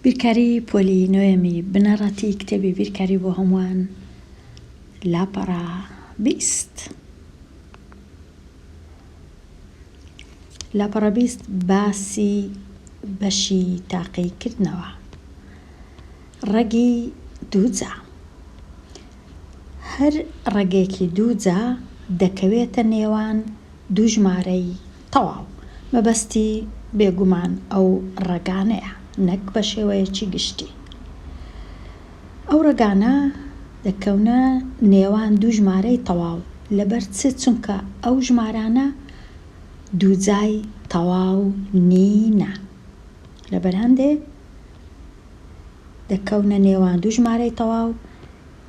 بیرکاری پۆلی نۆیەمی بنەڕەتی کتێبی بیرکاری بۆ هەمووان لاپەڕە بیست لاپەڕە بیست باسی بەشی تاقی کردنەوە ڕەگی دووجا هەر ڕەگێکی دووجا دەکەوێتە نێوان دوو ژمارەی تەواو مەبەستی بێگومان ئەو ڕەگانەیە نەک بە شێوەیەکی گشتی. ئەو ڕەگانە دەکەونە نێوان دوو ژمارەی تەواو لەبەر چ چونکە ئەو ژمارانە دووجای تەواو نینە لەبەر هەندێ دەکەونە نێوان دوو ژمارەی تەواو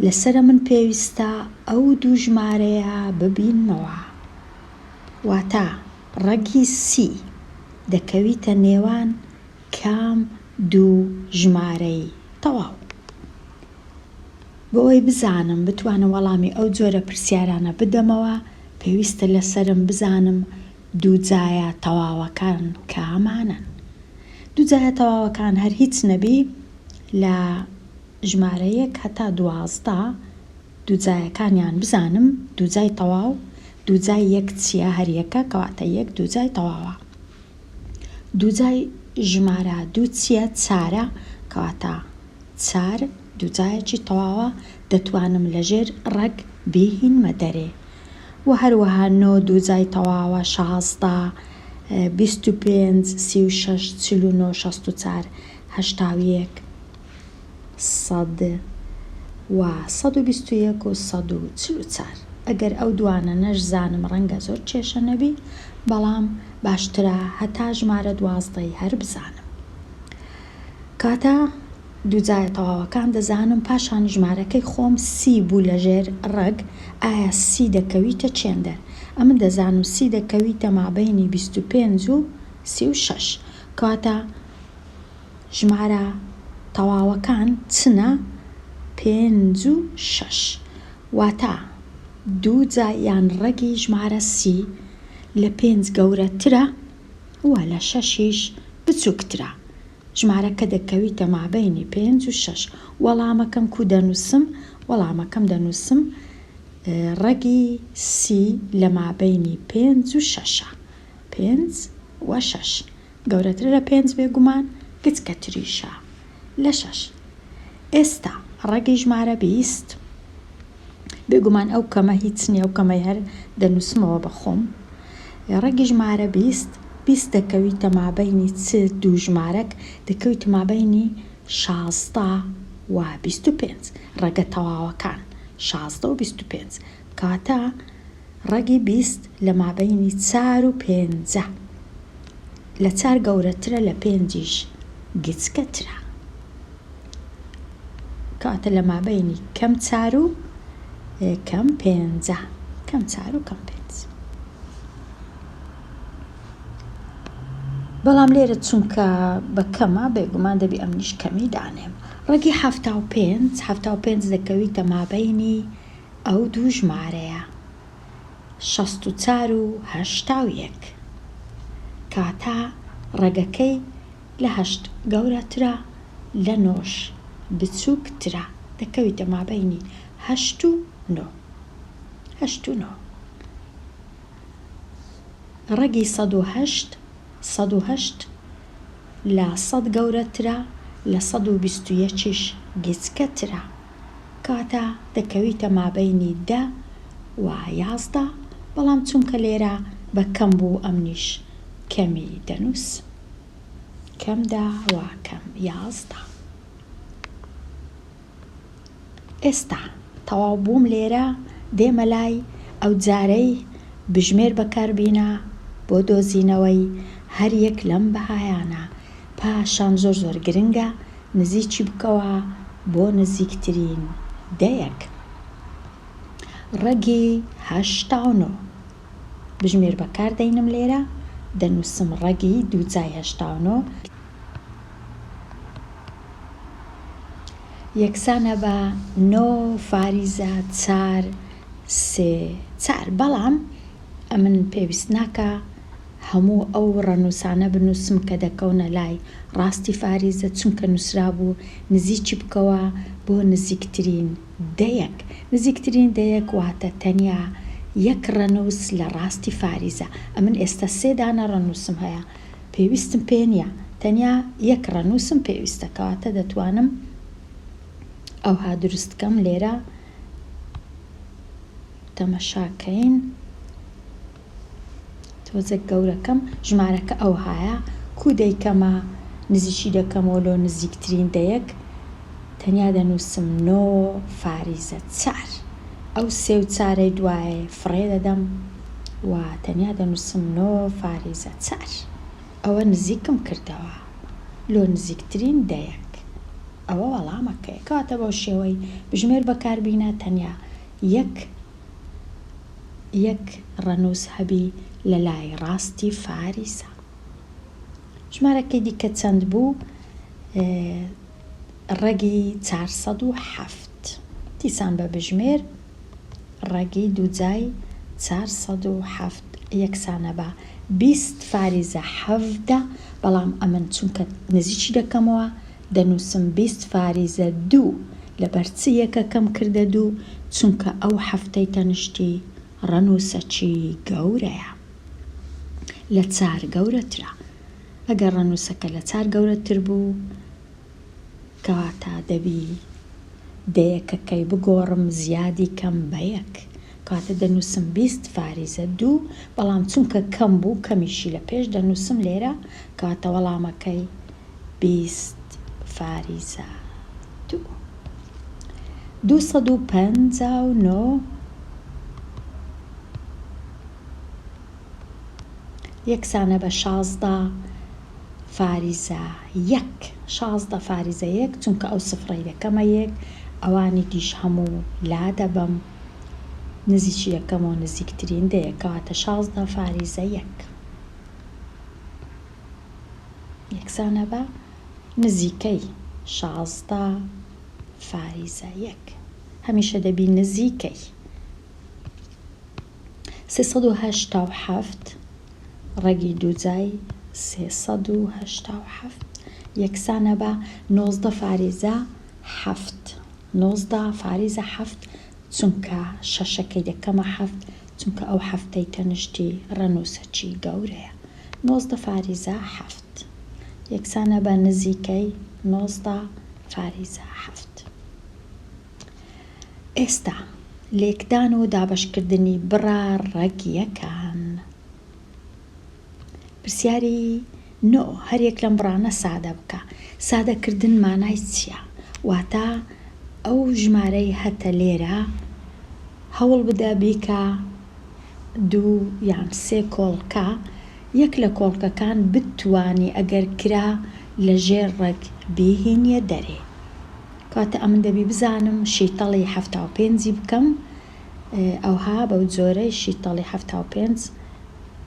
لەسەرە من پێویستە ئەو دوو ژمارەیە ببینمەوە. واتا ڕەگی سی، دەکەویتە نێوان کام دوو ژمارەی تەواو؟ بۆ ئەوەی بزانم بتوانم وەڵامی ئەو جۆرە پرسیارانە بدەمەوە پێویستە لەسەرم بزانم دوو جایە تەواوەکان کامانەن؟ دوو جایە تەواوەکان هەر هیچ نەبی لە ژمارە یەک هەتا دوازدە، دووجایەکانیان بزانم دووجای تەواو دووجای یەک چیە هەریەکە کەواتە یەک دووجای تەواوە دووجای ژمارە دوو چیە چارە کەواتە چار دووجایەکی تەواوە دەتوانم لەژێر ڕەگ بیهینمە دەرێ وە هەروەها نۆ دووجای تەواوە شازدە بیست و پێنج سی و شەش چل و نۆ شەست و چار هەشتا و یەک. سەد و سەد و بیست و یەک و سەد و چل و چار ئەگەر ئەو دوانە نەشزانم ڕەنگە زۆر کێشە نەبی بەڵام باشترە هەتا ژمارە دوازدەی هەر بزانم کاتە دووجایە تەواوەکان دەزانم پاشان ژمارەکەی خۆم سی بوو لە ژێر ڕەگ ئایا سی دەکەویتە چێندەر ئەمن دەزانم سی دەکەویتە مابینی بیست و پێنج و سی و شەش کاتە ژمارە تەواوەکان چنە پێنج و شەش، واتە دوو جا یان ڕەگی ژمارە سی لە پێنج گەورەترە و لە شەشیش بچووکترە، ژمارەکە دەکەویتە مابەینی پێنج و شەش، وەڵامەکەم کوو دەنووسم؟ وەڵامەکەم دەنووسم ڕەگی سی لە مابەینی پێنج و شەشە، پێنج و شەش گەورەترە لە پێنج بێ گومان گچکە تریشە لە شەش ئێستا ڕەگی ژمارە بیست بێ گومان ئەو کەمە هیچ نیە ئەو کەمەی هەر دەنوسمەوە بە خۆم ڕەگی ژمارە بیست بیست دەکەویتە مابەینی چ دوو ژمارەک دەکەویتە مابەینی شازدە و بیست و پێنج ڕەگە تەواوەکان شازدە و بیست و پێنج کاتا ڕەگی بیست لە مابەینی چار و پێنجە. لە چار گەورەترە لە پێنجیش گچکەترە. کاتا لە مابەینی کەم چار و کەم پێنجە. کەم چار و کەم پێنج. بەڵام لێرە چونکە بە کەمە بێگومان دەبی ئەمنیش کەمی دانێم. ڕەگی حەفتا و پێنج، حەفتا و پێنج دەکەویتە مابەینی ئەو دوو ژمارەیە، شەست و چار و هەشتا و یەک، کاتە ڕەگەکەی لە هەشت گەورەترە، لە نۆش بچووکترە، دەکەویتە مابەینی هەشت و نۆ. هەشت و نۆ. ڕەگی سەد و هەشت، سەد و هەشت لە سەد گەورەترە، لە سەد و بیست و یەکیش گچکەترە. کاتە دەکەویتە مابەینی دە و یازدە بەڵام چونکە لێرە بە کەم بوو ئەمنیش کەمی دەنووس کەم دە و کەم یازدە. ئێستا تەواو بووم لێرە دێمە لای ئەو جارەی بژمێر بەکاربینە بۆ دۆزینەوەی هەر یەک لەم بەهایانە. پاشان زۆر زۆر گرنگە نزیکی بکەوە بۆ نزیکترین دەیەک ڕەگی هەشت تا نۆ بژمێر بەکار دەینم لێرە دەنوسم ڕەگی دووجای هەشت تا نۆ یەکسانە بە نۆ فاریزە چار سێ چار بەڵام ئەمن پێویست ناکە هەموو ئەو ڕەنووسانە بنووسم کە دەکەونە لای ڕاستی فاریزە، چونکە نووسرابوو نزیکی بکەوە بۆ نزیکترین دەیەک، نزیکترین دەیەک واتە تەنیا یەک ڕەنووس لە ڕاستی فاریزە، ئەمن ئێستا سێ دانە ڕەنووسم هەیە پێویستم پێ نییە، تەنیا یەک ڕەنووسم پێویستە کەواتە دەتوانم ئەوها دروست بکەم لێرە تەمەشا کەین. تۆزێک گەورەکەم ژمارەکە ئەوهایە کوو دەیکەمە نزیکی دەکەمەوە لۆ نزیکترین دەیەک تەنیا دەنووسم نۆ فاریزە چار ئەو سێ و چارەی دوایێ فڕێ دەدەم و تەنیا دەنووسم نۆ فاریزە چار ئەوە نزیکم کردەوە لۆ نزیکترین دەیەک ئەوە وەڵامەکەیە کەواتە بەو شێوەی بژمێر بەکاربینە تەنیا یەک یەک ڕەنووس هەبی لە لای ڕاستی فاریسا. ژمارەکەی دیکە چەند بوو؟ ڕەگی چار سەد و حەفت. دیسان بە بژمێر ڕەگی دووجای چار سەد و حەفت یەکسانە بە بیست فاریزە حەڤدە، بەڵام ئەمن چونکە نزیکی دەکەمەوە دەنووسم بیست فاریزە دوو لەبەر چ یەکەکەم کردە دوو چونکە ئەو حەفتەی تەنشتی ڕەنووسەچی گەورەیە لە چار گەورەترە ئەگەر ڕەنووسەکە لە چار گەورەتر بوو کەواتە دەبی دەیەکەکەی بگۆڕم زیادی کەم بە یەک کەواتە دەنووسم بیست فاریزە دوو بەڵام چونکە کەم بوو کەمیشی لە پێش دەنووسم لێرە کەواتە وەڵامەکەی بیست فاریزا دوو دوو سەد و پەنجا و نۆ یەکسانە بە شازدە فاریزا یەک شازدە فاریزا یەک چونکە ئەو سفڕەی دەکەمە یەک ئەوانی دیش هەموو لا دەبەم نزیکی یەکەمەوە نزیکترین دەیە کەواتە شازدە فاریزە یەک یەکسانە بە نزیکەی شازدە فاریزە یەک. هەمیشە دەبی نزیکەی سێ سەد و هەشتا و حەفت ڕەگی دووجای سێ سەد و هەشتا و حەفت یەکسانە بە نۆزدە فاریزە حەفت. نۆزدە فاریزە حەفت چونکە شەشەکەی دەکەمە حەفت چونکە ئەو حەفتەی تەنیشتی ڕەنووسەکی گەورەیە. نۆزدە فاریزە حەفت یەکسانە بە نزیکەی نۆزدە فاریزە حەفت. ئێستا لێکدان و دابەشکردنی بڕە ڕەگییەکان. پرسیاری نۆ، هەریەک لەم بڕانە سادە بکە. سادەکردن مانای چییە؟ واتە ئەو ژمارەی هەتە لێرە هەوڵ بدە بیکە. دوو یان سێ کۆڵکە یەک لە کۆڵکەکان بتوانی ئەگەر کرا لە ژێر ڕەگ بیهینیە دەرێ کەواتە ئەمن دەبی بزانم شیتەڵی حەفتا و پێنجی بکەم ئەوها بەو جۆرەی شیتەڵی حەفتا و پێنج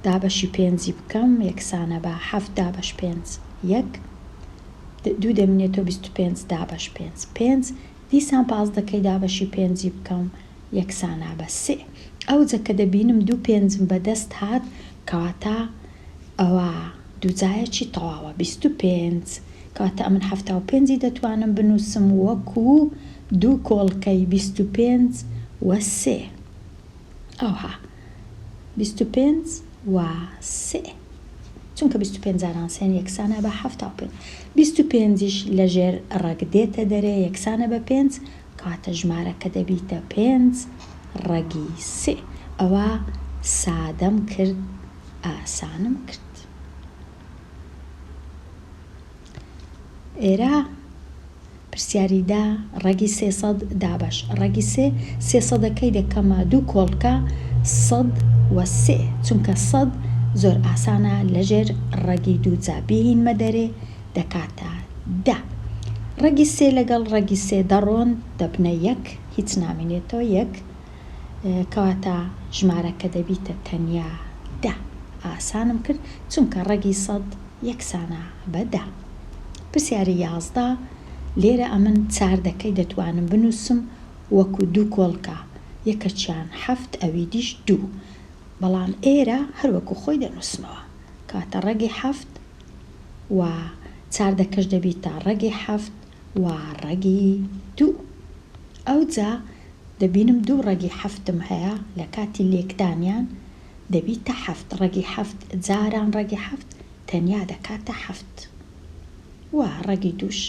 دابەشی پێنجی بکەم یەکسانە بە حەفت دابەش پێنج یەک دوو دەمینێتەوە بیست و پێنج دابەش پێنج پێنج دیسان پازدەکەی دابەشی پێنجی بکەم یەکسانە بە سێ. ئەوجە کە دەبینم دوو پێنجم بە دەست هات کەواتە ئەوە دووجایەکی تەواوە بیست و پێنج کەواتە ئەمن حەفتا و پێنجی دەتوانم بنووسم وەکو دوو کۆڵکەی بیست و پێنج و سێ. ئەوها بیست و پێنج و سێ چونکە بیست و پێنج جاران سێن یەکسانە بە حەفتا و پێنج. بیست و پێنجیش لە ژێر ڕەگ دێتە دەرێ یەکسانە بە پێنج. کاتە ژمارەکە دەبیتە پێنج ڕەگی سێ ئەوا سادەم کرد ئاسانم کرد ئێرە پرسیاری دا ڕەگی سێ سەد دابەش ڕەگی سێ سێ سەدەکەی دەکەمە دوو کۆڵکە سەد و سێ چونکە سەد زۆر ئاسانە لەژێر ڕەگی دوو جا بیهینمە دەرێ دەکاتە دە. ڕەگی سێ لەگەڵ ڕەگی سێ دەڕۆن دەبنە یەک، هیچ نامێنێتەوە یەک، کەواتە ژمارەکە دەبیتە تەنیا دە. ئاسانم کرد چونکە ڕەگی سەد یەکسانە بە دە. پرسیاری یازدە، لێرە ئەمن چار دەکەی دەتوانم بنووسم وەکو دوو کۆڵکە، یەکەکیان حەفت ئەویدیش دوو، بەڵام ئێرە هەر وەکو خۆی دەنووسمەوە، کەواتە ڕەگی حەفت، و چاردەکەش دەبیتە ڕەگی حەفت و ڕەگی دوو ئەوجا دەبینم دوو ڕەگی حەفتم هەیە لە کاتی لێکدانیان دەبیتە حەفت ڕەگی حەفت جاران ڕەگی حەفت تەنیا دەکاتە حەفت و ڕەگی دووش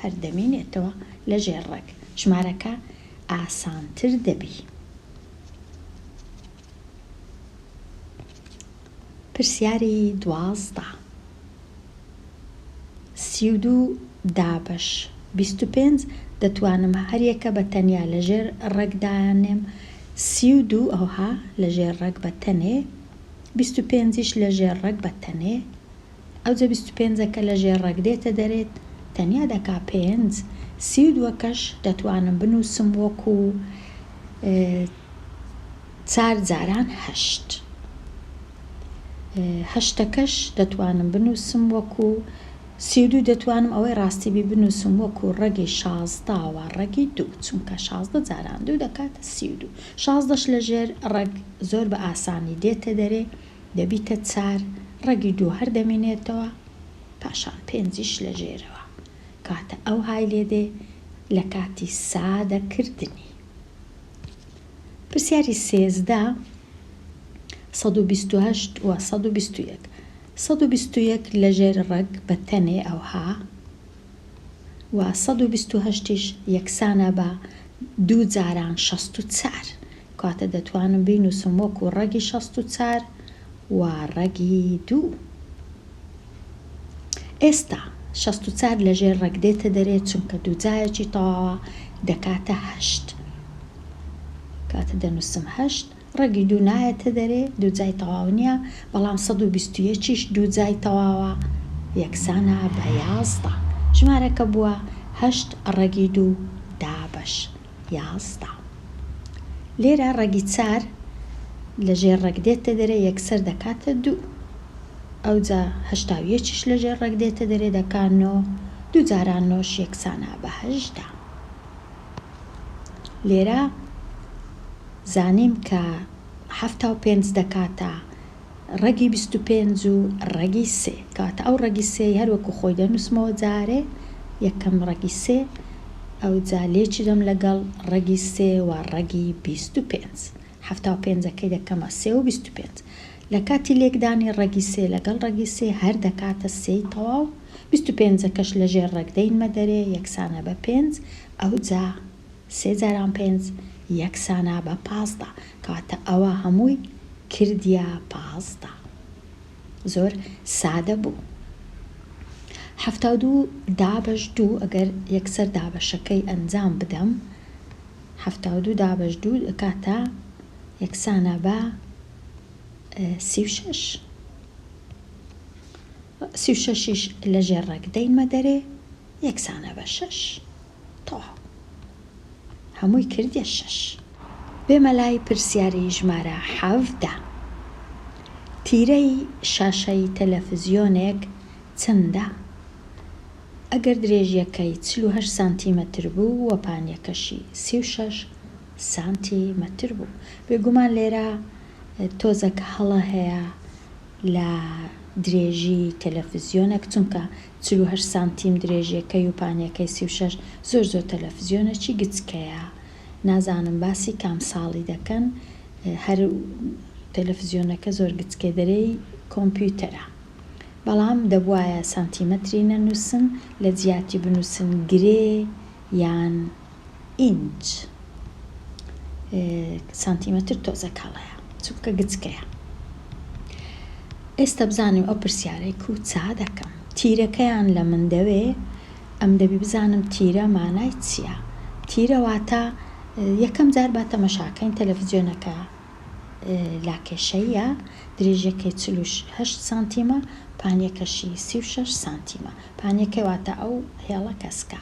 هەر دەمینێتەوە لە ژێر ڕەگ ژمارەکە ئاسانتر دەبی. پرسیاری دوازدە. سی و دوو دابەش بیست و پێنج دەتوانم هەریەکە بە تەنیا لە ژێر ڕێک دانێم سی و دوو ئەوها لە ژێر ڕێک بە تەنێ بیست و پێنجیش لە ژێر ڕێک بە تەنێ ئەوجە بیست و پێنجەکە لە ژێر ڕێک دێتە دەرێت تەنیا دەکا پێنج، سی و دووەکەش دەتوانم بنووسم وەکو چار جاران هەشت، هەشتەکەش دەتوانم بنووسم وەکو سی و دوو، دەتوانم ئەوەی ڕاستی بی بنووسم وەکو ڕەگی شازدە و ڕەگی دوو، چونکە شازدە جاران دوو دەکاتە سی و دوو، شازدەش لە ژێر ڕێک زۆر بە ئاسانی دێتە دەرێ. دەبیتە چار، ڕەگی دوو هەر دەمینێتەوە، پاشان پێنجیش لە ژێرەوە، کاتە ئەو های لێ دێ لە کاتی سادە کردنی. پرسیاری سێزدە سەد و بیست و هەشت و سەد و بیست و یەک. سەد و بیست و یەک لە ژێر ڕەگ بە تەنێ ئەوها و سەد و بیست و هەشتیش یەکسانە بە دوو جاران شەست و چار. کاتە دەتوانم بینووسم وەکو ڕەگی شەست و چار و ڕەگی دوو. ئێستا شەست و چار لە ژێر ڕەگ دێتە دەرێ چونکە دوو جایەکی تەواوە دەکاتە هەشت. کاتە دەنووسم هەشت، ڕەگی دوو نایەتە دەرێ دوو جای تەواو نییە، بەڵام سەد و بیست و یەک یش دوو جای تەواوە یەکسانە بە یازدە. ژمارەکە بووە هەشت ڕەگی دوو دابەش. یازدە. لێرە ڕەگی چار لە ژێر ڕەگ دێتە دەرێ یەکسەر دەکاتە دوو. ئەوجا هەشتا و یەکیش لە ژێر ڕەگ دێتە دەرێ دەکا نۆ. دوو جاران نۆش یەکسانە بە هەژدە. لێرە زانیم کە حەفتا و پێنج دەکاتە. ڕەگی بیست و پێنج و ڕەگی سێ، کەواتە ئەو ڕەگی سێی هەر وەکو خۆی دەنووسمەوە جارێ یەکەم ڕەگی سێ، ئەوجا لێکی دەم لەگەڵ ڕەگی سێ و ڕەگی بیست و پێنج، حەفتا و پێنجەکەی دەکەمە سێ و بیست و پێنج، لە کاتی لێکدانی ڕەگی سێ لەگەڵ ڕەگی سێ هەر دەکاتە سێی تەواو، بیست و پێنجەکەش لەژێر ڕەگ دەینمە دەرێ یەکسانە بە پێنج، ئەوجا. سێ جاران پێنج یەکسانە بە پازدە کەواتە ئەوە هەمووی کردیە پازدە زۆر سادە بوو حەفتا و دوو دابەش دوو ئەگەر یەکسەر دابەشەکەی ئەنجام بدەم حەفتا و دوو دابەش دوو دەکاتە یەکسانە بە سی و شەش سی و شەشیش لە ژێر ڕەگ دەینمە دەرێ یەکسانە بە شەش. تۆ هەمووی کردیە شەش. بێ مەلای پرسیاری ژمارە حەڤدە. تیرەی شاشەی تەلەفزیۆنێک چەندە؟ ئەگەر درێژیەکەی چل و هەشت سانتی مەتر بوو و پانیەکەشی سی و شەش سانتی مەتر بوو بێگومان لێرە تۆزەک هەڵە هەیە لە درێژی تەلەفزیۆنەک چونکە چل و هەشت سانتیم درێژیەکەی و پانیەکەی سی و شەش زۆر زۆر تەلەفزیۆنە چی گچکەیە نازانم باسی کام ساڵی دەکەن هەر تەلەفزیۆنەکە زۆر گچکەی دەرێی کۆمپیوتەرە بەڵام دەبوایە سانتیمەتری نەنوسن لەجیاتی بنوسن گرێ یان ئینچ سانتیمەتر تۆزێک کاڵەیە چونکە گچکەیە ئێستا بزانم ئەو پرسیارەی کو چا دەکەم تیرەکەیان لە من دەوێ ئەم دەبی بزانم تیرە مانای چییە تیرە واتە یەکەم جار با تەمەشاکەین تەلەفزیۆنەکە لاکێشەییە درێژەکەی چل و هەشت سانتیمە پانیەکەشی سی و شەش سانتیمە پانیەکەی واتە ئەو هێڵە کەسکە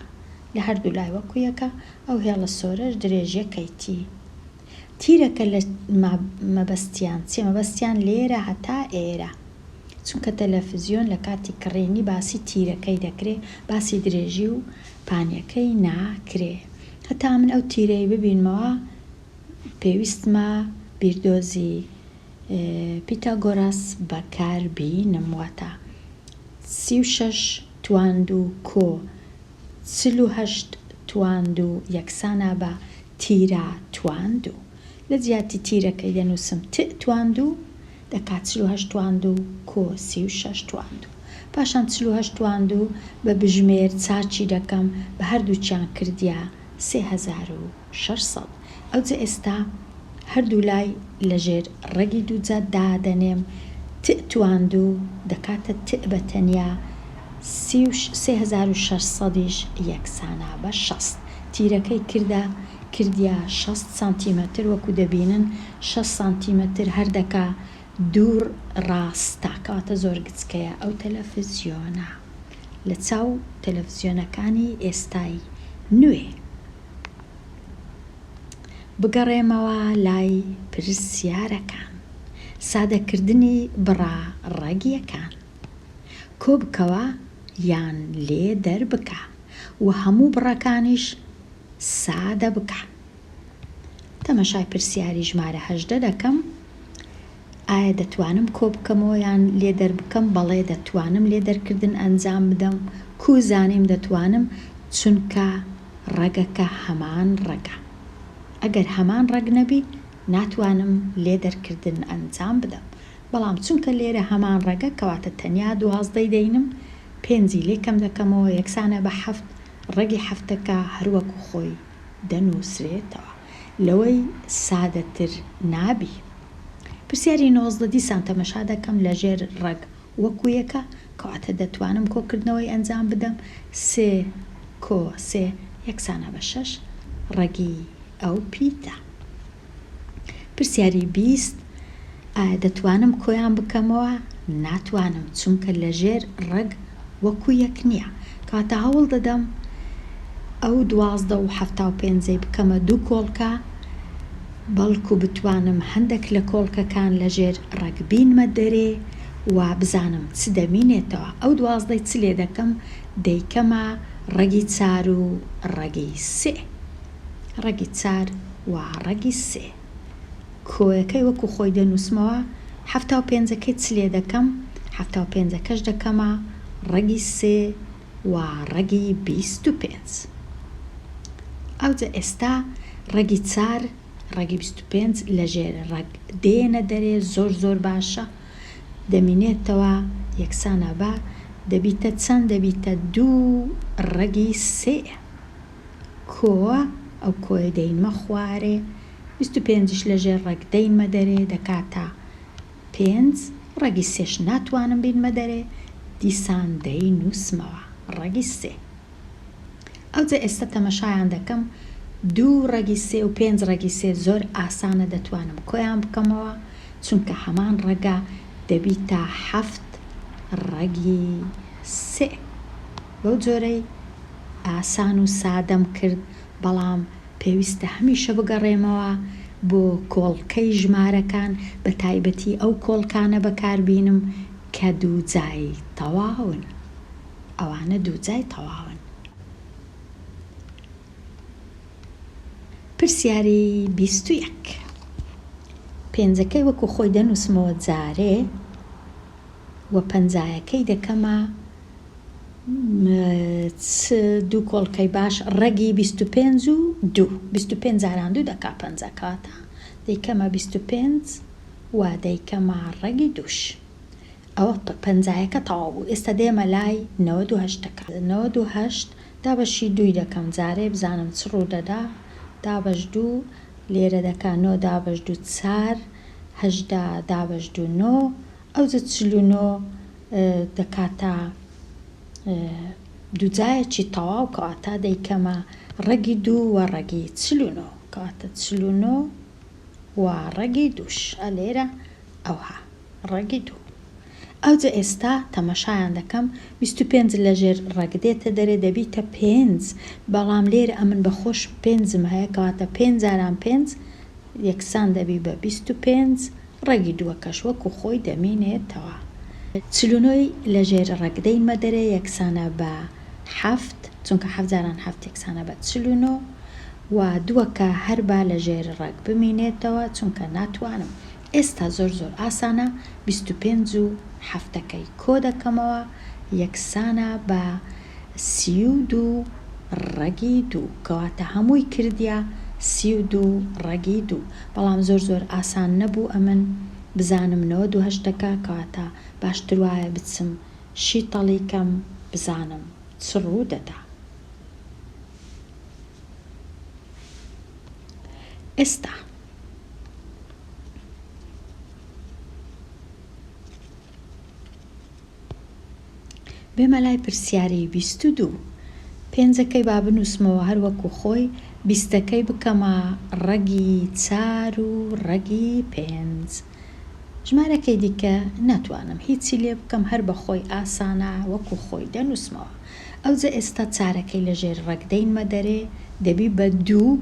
لە هەردوو لای وەکو یەکە ئەو هێڵە سۆرەش درێژیە کەی تی تیرەکە لە ما مەبەستیان چیە مەبەستیان لێرە هەتا ئێرە چونکە تەلەفزیۆن لە کاتی کڕینی باسی تیرەکەی دەکرێ باسی درێژی و پانیەکەی ناکرێ هەتا من ئەو تیرەی ببینمەوە پێویستمە بیردۆزی پیتاگۆراس بەکار بینم واتە سی و شەش تواند و کۆ چل و هەشت تواند و یەکسانە بە تیرە تواند و لە جیاتی تیرەکەی دەنووسم ت تواند و دەکات چل و هەشت تواند و کۆ سی و شەش تواند و پاشان چل و هەشت تواند و بە بژمێر چاکی دەکەم بە هەردووکیان کردیە سێ هەزار و شەش سەد. ئەوجە ئێستا هەردوو لای لە ژێر ڕەگی دووجا دادەنێم، تئ تواندوو دەکاتە تئ بە تەنیا، سی و سێ هەزار و شەش سەدیش یەکسانە بە شەست، تیرەکەی کردە کردیە شەست سانتیمەتر، وەکو دەبینن شەست سانتیمەتر هەر دەکا دوو ڕاستە، کەواتە زۆر گچکەیە ئەو تەلەفزیۆنە لە چاو تەلەفزیۆنەکانی ئێستای نوێ. بگەڕێمەوە لای پرسیارەکان. سادەکردنی بڕە ڕەگیەکان کۆبکەوە یان لێ دەربکە و هەموو بڕەکانیش سادە بکە. تەمەشای پرسیاری ژمارە هەژدە دەکەم. ئایا دەتوانم کۆبکەمەوە یان لێ دەربکەم؟ بەڵێ دەتوانم لێ دەرکردن ئەنجام بدەم. کوو زانیم دەتوانم؟ چونکە ڕەگەکە هەمان ڕەگە. ئەگەر هەمان ڕەگ نەبی ناتوانم لێ دەرکردن ئەنجام بدەم. بەڵام چونکە لێرە هەمان ڕەگە کەواتە تەنیا دوازدەی دەینم، پێنجی لێ کەم دەکەمەوە یەکسانە بە حەفت، ڕەگی حەفتەکە هەروەکو خۆی. دەنووسرێتەوە لەوەی سادەتر نابی. پرسیاری نۆزدە، دیسان تەمەشا دەکەم لە ژێر ڕەگ وەکو یەکە، کەواتە دەتوانم کۆکردنەوەی ئەنجام بدەم، سێ کۆ سێ یەکسانە بە شەش ڕەگی ئەو پیتە. پرسیاری بیست، ئایا دەتوانم کۆیان بکەمەوە؟ ناتوانم، چونکە لەژێر ڕەگ وەکو یەک نییە. کەواتە هەوڵدەدەم ئەو دوازدە و حەفتا و پێنجەی بکەمە دوو کۆڵکە، بەڵکو بتوانم هەندێک لە کۆڵکەکان لەژێر ڕەگ بینمە دەرێ و بزانم چ دەمینێتەوە. ئەو دوازدەی چ لێدەکەم؟ دەیکەمە ڕەگی چار و ڕەگی سێ. ڕەگی چار و ڕەگی سێ. کۆیەکەی وەکو خۆی دەنووسمەوە، حەفتا و پێنجەکەی چ لێ دەکەم؟ حەفتا و پێنجەکەش دەکەمە ڕەگی سێ و ڕەگی بیست و پێنج. ئەوجە ئێستا ڕەگی چار، ڕەگی بیست و پێنج لە ژێر ڕەگ دێنە دەرێ، زۆر زۆر باشە. دەمینێتەوە یەکسانە بە، دەبیتە چەند؟ دەبیتە دوو ڕەگی سێ. کووە ئەو کۆیە دەی مەخوارێ بیست و پێنجیش لە ژێر ڕەگ دەیمە دەرێ دەکاتە پێنج ڕەگی سێش ناتوانم بینمە دەرێ دیسان دەی نووسمەوە ڕەگی سێ ئەوجە ئێستا تەمەشایان دەکەم دوو ڕەگی سێ و پێنج ڕەگی سێ زۆر ئاسانە دەتوانم کۆیان بکەمەوە چونکە هەمان ڕەگە دەبیتە حەفت ڕەگی سێ. بەو جۆرەی ئاسان و سادەم کرد، بەڵام پێویستە هەمیشە بگەڕێمەوە بۆ کۆڵکەی ژمارەکان، بە تایبەتی ئەو کۆڵکانە بەکار بینم کە دوو جای تەواون. ئەوانە دوو جای تەواون. پرسیاری بیست و یەک. پێنجەکەی وەکو خۆی دەنووسمەوە جارێ و پەنجایەکەی دەکەمە. چ دوو کۆڵکەی باش ڕەگی بیست و پێنج و دوو بیست و پێنج جاران دوو دەکا پەنجا کەواتە دەیکەمە بیست و پێنج و دەیکەمە ڕەگی دووش ئەوە پەنجایەکە تەواو بوو ئێستا دێمە لای نەوەد و هەشت دەکا نەوەد و هەشت دابەشی دووی دەکەم جارێ بزانم چ ڕوو دەدا دابەش دوو لێرە دەکا نۆ دابەش دوو چار هەژدە دابەش دوو نۆ ئەوجە چل و نۆ دەکاتە دووجایەکی تەواو کەواتە دەیکەمە ڕەگی دوو و ڕەگی چل و نۆ کەواتە چل و نۆ و ڕەگی دووش ئە لێرە ئەوها ڕەگی دوو ئەوجە ئێستا تەمەشایان دەکەم بیست و پێنج لەژێر ڕەگ دێتە دەرێ دەبیتە پێنج بەڵام لێرە ئەمن بەخۆش پێنجم هەیە کەواتە پێنج جاران پێنج یەکسان دەبی بە بیست و پێنج ڕەگی دووەکەش وەکو خۆی دەمینێتەوە. چل و نۆ ی لە ژێر ڕەگ دەی مەدەرێ یەکسانە بە حەفت، چونکە حەفت جاران حەفت یەکسانە بە چل و نۆ، و دووەکە هەر با لە ژێر ڕەگ بمینێتەوە، چونکە ناتوانم. ئێستا زۆر زۆر ئاسانە، بیست و پێنج و حەفتەکەی کۆ دەکەمەوە یەکسانە بە. سی و دوو ڕەگی دوو کەواتە هەمووی کردیە سی و دوو ڕەگی دوو بەڵام زۆر زۆر ئاسان نەبوو ئەمن بزانم نەوەد و هەشت دەکا کەواتە باشتر وایە بچم شیتەڵی کەم بزانم چ ڕوو دەدا ئێستا. بێمە لای پرسیاری بیست و دوو. پێنجەکەی با بنووسمەوە هەر وەکوو خۆی، بیستەکەی بکەمە ڕەگی چار و ڕەگی پێنج. ژمارەکەی دیکە ناتوانم هیچی لێ بکەم هەر بە خۆی ئاسانە وەکوو خۆی دەنووسمەوە. ئەوجە ئێستا چارەکەی لە ژێر ڕەگ دەینمە دەرێ دەبی بە دوو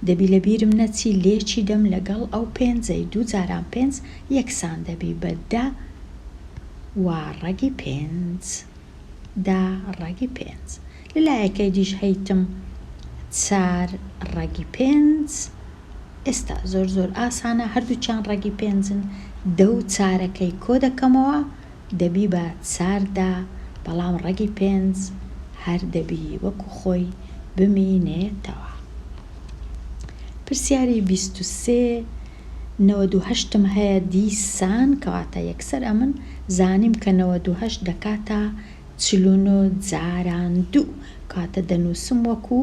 دەبی لە بیرم نەچی لێکی دەم لەگەڵ ئەو پێنجەی دوو جاران پێنج یەکسان دەبی بە دە وە ڕەگی پێنج دە ڕەگی پێنج لە لایەکەی دیش هەیتم چار ڕەگی پێنج ئێستا زۆر زۆر ئاسانە هەردووکیان ڕەگی پێنجن دە و چارەکەی کۆ دەکەمەوە دەبی بە چار دا بەڵام ڕەگی پێنج هەر دەبی وەکو خۆی بمینێتەوە. پرسیاری بیست و سێ نەوەد و هەشتم هەیە دیسان کەواتە یەکسەر ئەمن زانیم کە نەوەد و هەشت دەکاتە چل و نۆ جاران دوو کەواتە دەنوسم وەکو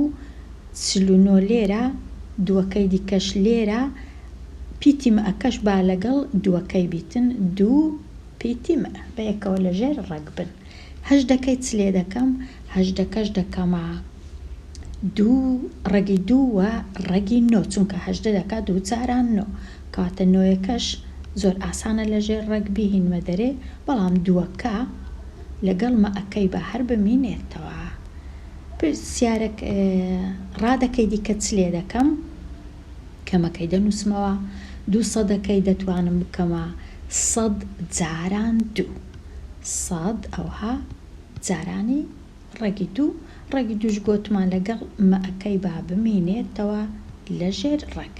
چل و نۆ لێرە دوەکەی دیکەش لێرە پیتی مئەکەش با لەگەڵ دوەکەی بیتن دوو پیتیم ە بەیەکەوە لەژێر ڕەگ بن. هەژدەکەی چ لێ دەکەم؟ هەژدەکەش دەکەمە دوو ڕەگی دوو و ڕەگی نۆ چونکە هەژدە دەکا دوو جاران نۆ کەواتە نۆیەکەش زۆر ئاسانە لەژێر ڕەگ بیهینمە دەرێ بەڵام دووەکە لەگەڵ مە ەکەی با هەر بمینێتەوە. پرسیارەکە، ڕادەکەی دیکە چ لێ دەکەم؟ کەمەکەی دەنووسمەوە، دوو سەدەکەی دەتوانم بکەمە سەد جاران دوو. سەد ئەوها جارانی ڕەگی دوو، ڕەگی دووش گۆتمان لەگەڵ مەکەی با بمینێتەوە لە ژێر ڕەگ.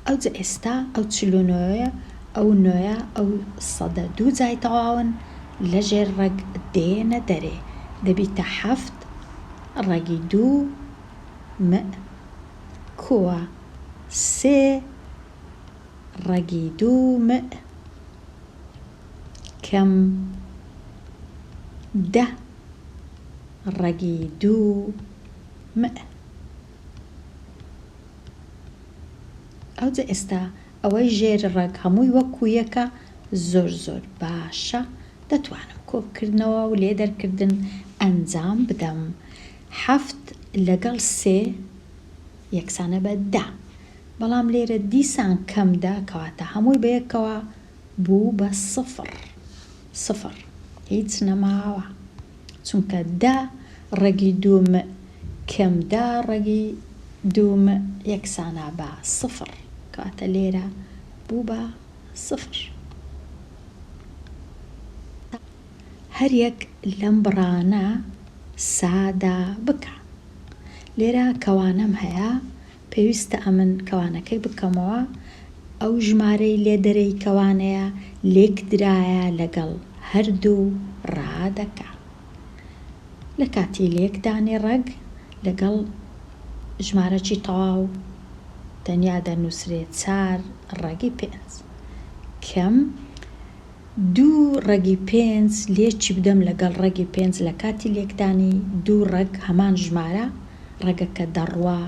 ئەوجە ئێستا ئەو چل و نۆیە، ئەو نۆیە، ئەو سەدە دوو جای تەواون لە ژێر ڕەگ دێنە دەرێ، دەبیتە حەفت، ڕەگی دوو، مئ، کووە سێ ڕەگی دوو مئ کەم دە ڕەگی دوو مئ. ئەوجە ئێستا ئەوەی ژێر ڕەگ هەمووی وەک کوویەکە زۆر زۆر باشە دەتوانم کۆکردنەوە و لێدەرکردن ئەنجام بدەم حەفت لەگەڵ سێ یەکسانە بە دە، بەڵام لێرە دیسان کەم دە کەواتە هەمووی بەیەکەوە بوو بە سفڕ، سفڕ هیچ نەماوە چونکە دە ڕەگی دوو مئ کەم دە ڕەگی دوو مئ یەکسانە بە سفڕ کەواتە لێرە بوو بە سفر. هەریەک لەم بڕانە سادە بکە لێرە کەوانەم هەیە پێویستە ئەمن کەوانەکەی بکەمەوە ئەو ژمارەی لێ دەرێی کەوانەیە لێکدرایە لەگەڵ هەردوو ڕادەکە لە کاتی لێکدانی ڕەگ لەگەڵ ژمارەکی تەواو تەنیا دەنووسرێ چار ڕەگی پێنج کەم دوو ڕەگی پێنج لێ چیبدەم لەگەڵ ڕەگی پێنج لە کاتی لێکدانی دوو ڕەگ هەمان ژمارە ڕەگەکە دەڕوا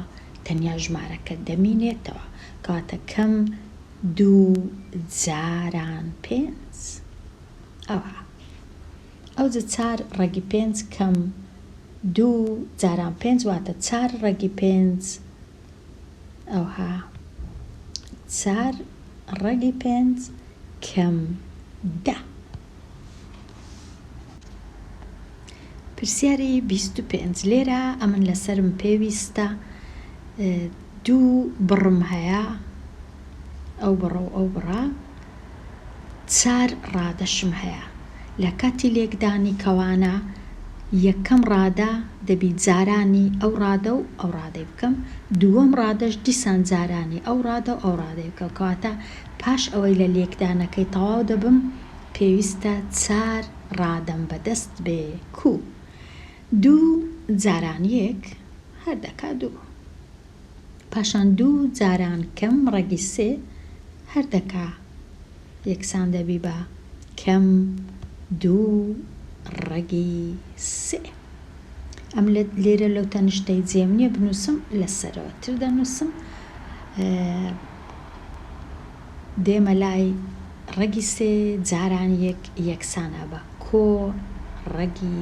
تەنیا ژمارەکە دەمینێتەوە کەواتە کەم دوو جاران پێنج ئەوا ئەوجە چار ڕەگی پێنج کەم دوو جاران پێنج واتە چار ڕەگی پێنج ئەوها چار ڕەگی پێنج کەم دە. پرسیاری بیست و پێنج، لێرە ئەمن لەسەرم پێویستە دوو بڕم هەیە، ئەو بڕە و ئەو بڕە، چار ڕادەشم هەیە لە کاتی لێکدانی کەوانە یەکەم ڕادە دەبی جارانی ئەو ڕادە و ئەو ڕادەی بکەم دووەم ڕادەش دیسان جارانی ئەو ڕادە و ئەو ڕادەی بکەم کەواتە پاش ئەوەی لە لێکدانەکەی تەواو دەبم پێویستە چار ڕادەم بەدەست بێ کوو دوو جارانیێک هەر دەکا دوو. پاشان دوو جاران کەم ڕەگی سێ هەر دەکا یەکسان دەبی بە کەم دوو ڕەگی سێ. ئەم لێرە لەو تەنشتەی جێم نییە بنووسم لە سەرەوە تر دەنووسم دێمە لای ڕەگی سێ جاران یەک یەکسان ئەبا کۆ ڕەگی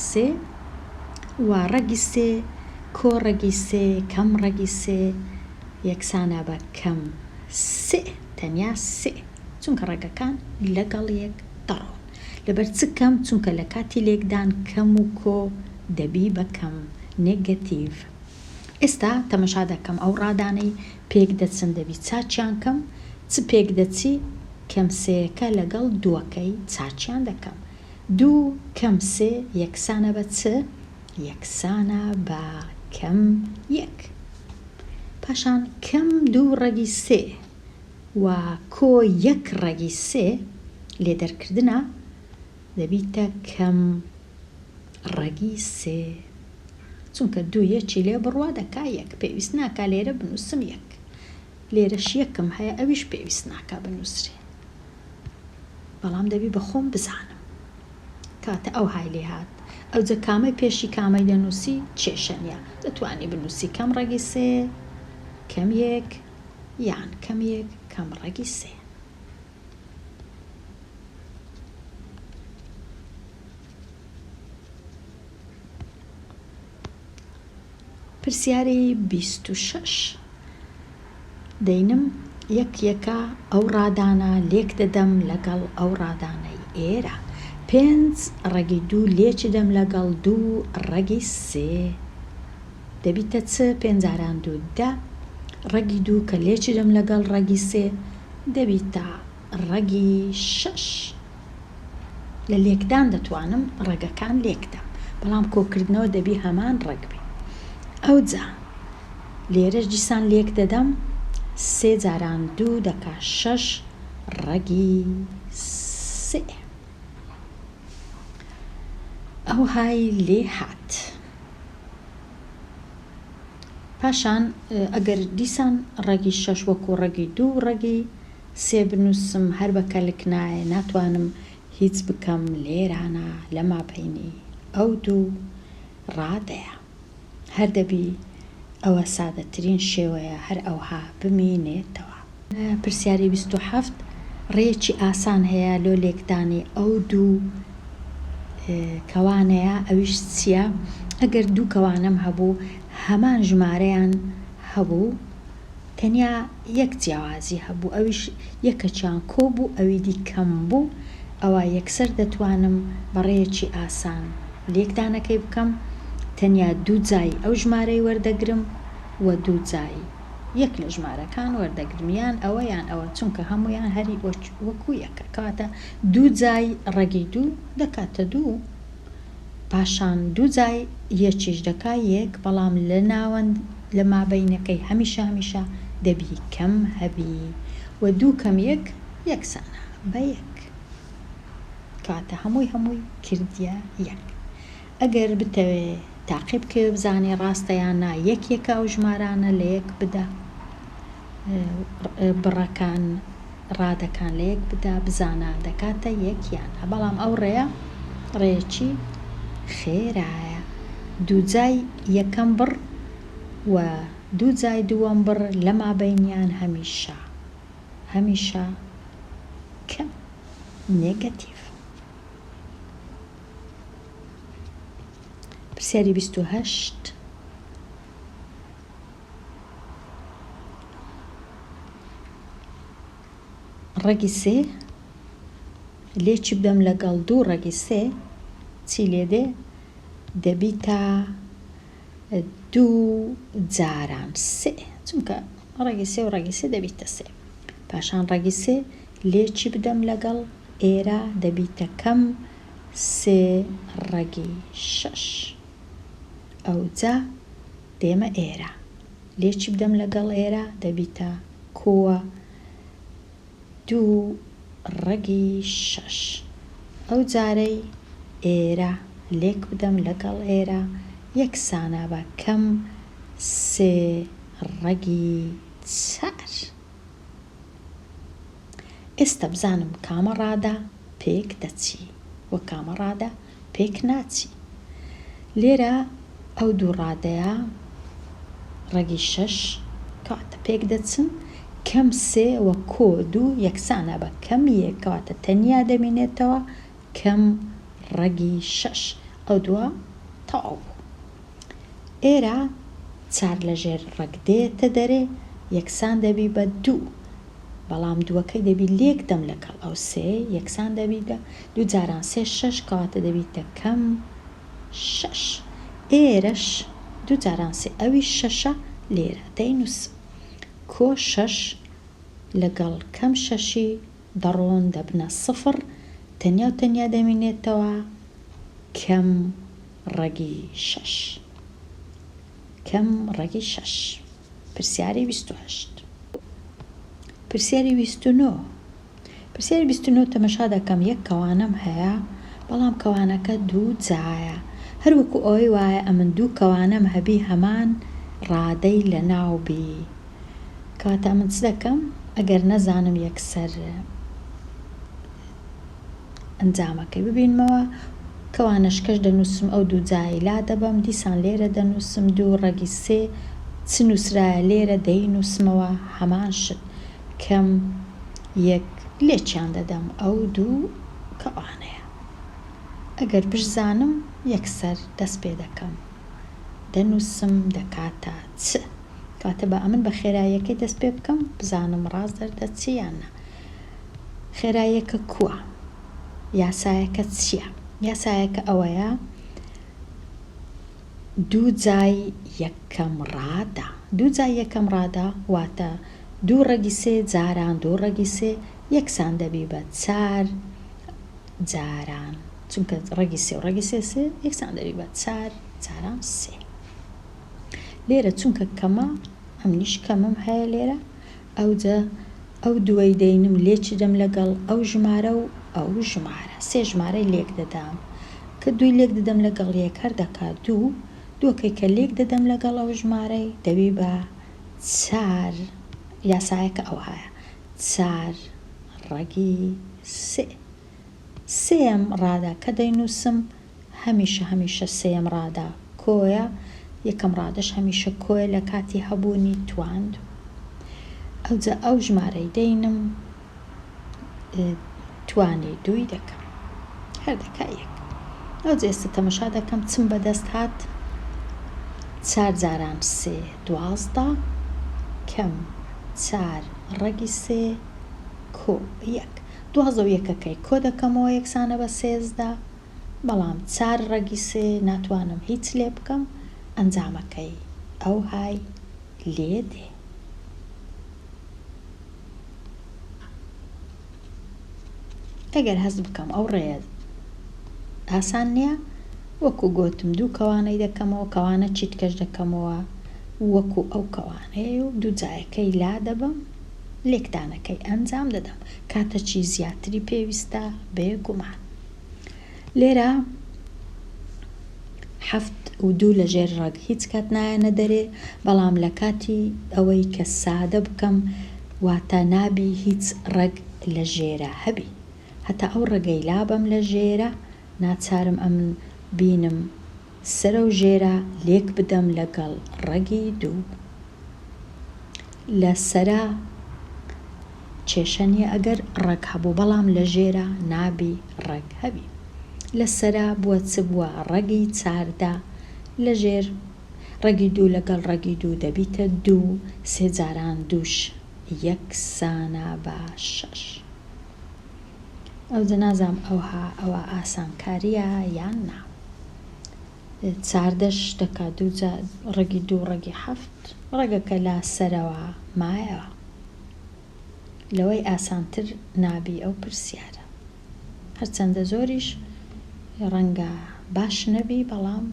سێ و ڕەگی سێ کۆ ڕەگی سێ کەم ڕەگی سێ یەکسانە بە کەم سئ تەنیا سئ چونکە ڕەگەکان لەگەڵ یەک دەڕۆن لەبەر چ کەم چونکە لە کاتی لێکدان کەم و کۆ دەبی بە کەم نێگەتیڤ ئێستا تەمەشا دەکەم ئەو ڕادانەی پێک دەچن دەبی چاکیان کەم چ پێک دەچی کەم سێیەکە لەگەڵ دووەکەی چاکیان دەکەم دوو کەم سێ یەکسانە بە چ یەکسانە بە کەم یەک پاشان کەم دوو ڕەگی سێ وە کۆ یەک ڕەگی سێ لێ دەرکردنە دەبیتە کەم ڕەگی سێ چونکە دوو یەکی لێ بڕوا دەکا یەک پێویست ناکا لێرە بنووسم یەک لێرەش یەکم هەیە ئەویش پێویست ناکا بنووسرێ بەڵام دەبی بە خۆم بزانم کاتە ئەو های لێ هات ئەوجە کامەی پێشی کامەی دەنووسی کێشە نیە دەتوانی بنووسی کەم ڕەگی سێ کەم یەک یان کەم یەک کەم ڕەگی سێ پرسیاری بیست و شەش دەینم یەک یەکە ئەو ڕادانە لێک دەدەم لەگەڵ ئەو ڕادانەی ئێرە پێنج ڕەگی دوو لێچدەم لەگەڵ دوو ڕەگی سێ. دەبیتە چ پێنجاران دوو دە ڕەگی دوو کە لێچرم لەگەڵ ڕەگی سێ دەبیتە ڕەگی شەش لە لێکدان دەتوانم ڕەگەکان لێکدەم بەڵام کۆکردنەوە دەبی هەمان ڕەگ بی ئەوجا لێرەش دیسان لێک دەدەم سێ جاران دوو دەکا شەش ڕەگی سئ ئەوهای لێ هات. پاشان ئەگەر دیسان ڕەگی شەش وەکو ڕەگی دوو و ڕەگی سێ بنووسم هەر بە کەلک نایە ناتوانم هیچ بکەم لێرانە لە مابەینی ئەو دوو ڕادەیە هەر دەبی ئەوە سادەترین شێوەیە هەر ئەوها بمینێتەوە. پرسیاری بیست و حەفت، ڕێیەکی ئاسان هەیە لۆ لێکدانی ئەو دوو کەوانەیا ئەویش چیە ئەگەر دوو کەوانەم هەبوو هەمان ژمارەیان هەبوو تەنیا یەک جیاوازی هەبوو ئەویش یەکەکیان کۆ بوو ئەوی دی کەم بوو ئەوا یەکسەر دەتوانم بە ڕێیەکی ئاسان لێکدانەکەی بکەم تەنیا دوو جای ئەو ژمارەی وەردەگرم و دوو جای یەک لە ژمارەکان وەردەگرم یان ئەوە یان ئەوە چونکە هەموویان هەر وەکو یەکە کەواتە دوو جای ڕەگی دوو دەکاتە دوو پاشان دوو جای یەکیش دەکا یەک بەڵام لە ناوەند لە مابەینەکەی هەمیشە هەمیشە دەبی کەم هەبی وە دوو کەم یەک یەکسانە بە یەک کەواتە هەمووی هەمووی کردیە یەک. ئەگەر بتەوێ تاقی بکەوێ بزانێ ڕاستە یان نا یەک یەکە ئەو ژمارانە لە یەک بدە بڕەکان ڕادەکان لە یەک بدا بزانە دەکاتە یەک یان نا بەڵام ئەو ڕێیە ڕێیەکی خێرایە دوو جای یەکەم بڕ و دوو جای دووەم بڕ لە مابەینیان هەمیشە هەمیشە کەم نێگەتیڤ. پرسیاری بیست و هەشت، ڕەگی سێ لێ چی بدەم لەگەڵ دوو ڕەگی سێ چی لێ دێ دەبیتە دوو جاران سێ چونکە ڕەگی سێ و ڕەگی سێ دەبیتە سێ پاشان ڕەگی سێ لێ چی بدەم لەگەڵ ئێرە دەبیتە کەم سێ ڕەگی شەش ئەوجا دێمە ئێرە لێ چی بدەم لەگەڵ ئێرە دەبیتە کووە دوو ڕەگی شەش ئەوجارەی ئێرە لێک بدەم لەگەڵ ئێرە یەکسانە بە کەم سێ ڕەگی چار. ئێستا بزانم کامە ڕادە پێک دەچی و کامە ڕادە پێک ناچی لێرە ئەو دوو ڕادەیە ڕەگی شەش کاتە پێک دەچن کەم سێ و کۆ دوو یەکسانە بە کەم یەک کاتە تەنیا دەمینێتەوە کەم ڕەگی شەش ئەو دووە تەواو بوو ئێرە چار لە ژێر ڕەگ دێتە دەرێ، یەکسان دەبی بە دوو، بەڵام دووەکەی دەبی لێک دەم لەکەڵ ئەو سێ، یەکسان دەبی بە دوو جاران سێ شەش، کەواتە دەبیتە کەم شەش. ئێرەش دوو جاران سێ، ئەویش شەشە، لێرە دەینووسم کۆ شەش لەگەڵ کەم شەشی دەڕۆن دەبنە سفر، تەنیا و تەنیا دەمینێتەوە کەم ڕەگی شەش کەم ڕەگی شەش پرسیاری بیست و هەشت پرسیاری بیست و نۆ پرسیاری بیست و نۆ تەمەشا دەکەم یەک کەوانەم هەیە بەڵام کەوانەکە دوو جایە هەر وەکو ئەوەی وایە ئەمن دوو کەوانەم هەبی هەمان ڕادەی لەناو بی کەواتە من چ دەکەم ئەگەر نەزانم یەکسەر ئەنجامەکەی ببینمەوە. کەوانەش کەش دەنووسم ئەو دوو جایەی لادەبەم، دیسان لێرە دەنووسم دوو ڕەگی سێ، چ نووسرایە لێرە دەینووسمەوە هەمان شت، کەم یەک لێکیان دەدەم ئەو دوو کەوانەیە. ئەگەر بشزانم یەکسەر دەست پێ دەکەم دەنووسم دەکاتە چ. کەواتە با ئەمن بە خێراییەکەی دەست پێ بکەم بزانم ڕاست دەردەچێ یان نا. خێراییەکە کووە؟ یاسایەکە چییە؟ یاسایەکە ئەوەیە دوو جای یەکەم ڕادە. دوو جای یەکەم ڕادە واتە دوو ڕەگی سێ جاران دوو ڕەگی سێ یەکسان دەبی بە چار جاران چونکە ڕەگی سێ و ڕەگی سێ سێ یەکسان دەبی بە چار جاران سێ لێرە چونکە کەمە ئەمنیش کەمم هەیە لێرە ئەوجە ئەو دووەی دەینم لێ چدەم لەگەڵ ئەو ژمارە و ئەو ژمارە سێ ژمارەی لێک دەدام کە دووی لێک ددەم لەگەڵ یەک هەر دەکا دوو دووەکەی کە لێک دەدەم لەگەڵ ئەو ژمارەی دەبی بە چار یاسایەکە ئەوهایە چار ڕەگی سێ. سێیەم ڕادە کە دەینووسم هەمیشە هەمیشە سێیەم ڕادە کۆیە، یەکەم ڕادەش هەمیشە کۆیە لە کاتی هەبوونی تواند. ئەوجا ئەو ژمارەی دەینم توانی دووی دەکەم. هەر دەکا یەک. ئەوجا ئێستا تەمەشا دەکەم چم بەدەست هات چار جاران سێ دوازدە کەم چار ڕەگی سێ کۆ یەک. دوازدە و یەکەکەی کۆ دەکەمەوە یەکسانە بە سێزدە، بەڵام چار ڕەگی سێ ناتوانم هیچ لێ بکەم، ئەنجامەکەی ئەوهای لێ دێ. ئەگەر هەست بکەم ئەو ڕێیە ئاسان نییە، وەکو گۆتم دوو کەوانەی دەکەمەوە، کەوانە چیتکەش دەکەمەوە وەکو ئەو کەوانەیە و دوو جایەکەی لا دەبەم. لێکدانەکەی ئەنجام دەدەم کاتەکی زیاتری پێویستە بێگومان لێرە حەفت و دوو لە ژێر ڕەگ هیچ کات نایەنە دەرێ بەڵام لە کاتی ئەوەی کە سادە بکەم واتە نابی هیچ ڕەگ لە ژێرە هەبی هەتا ئەو ڕەگەی لابەم لە ژێرە ناچارم ئەمن بینم سەرەو ژێرە لێک بدەم لەگەڵ ڕەگی دوو. لە سەرا کێشە نیە ئەگەر ڕەگ هەبوو بەڵام لە ژێرا نابی ڕەگ هەبی لە سەرا بوە چ بوە ڕەگی چاردە لە ژێر ڕەگی دوو لەگەڵ ڕەگی دوو دەبیتە دوو سێ جاران دووش یەکسانە بە شەش. ئەوجە نازانم ئەوها ئەوە ئاسانکاریە یان نا چاردە شتەکە دووجا ڕەگی دوو ڕەگی حەفت ڕەگەکە لا سەرەوە مایەوە لەوەی ئاسانتر نابی ئەو پرسیارە هەرچەندە زۆریش ڕەنگە باش نەبی بەڵام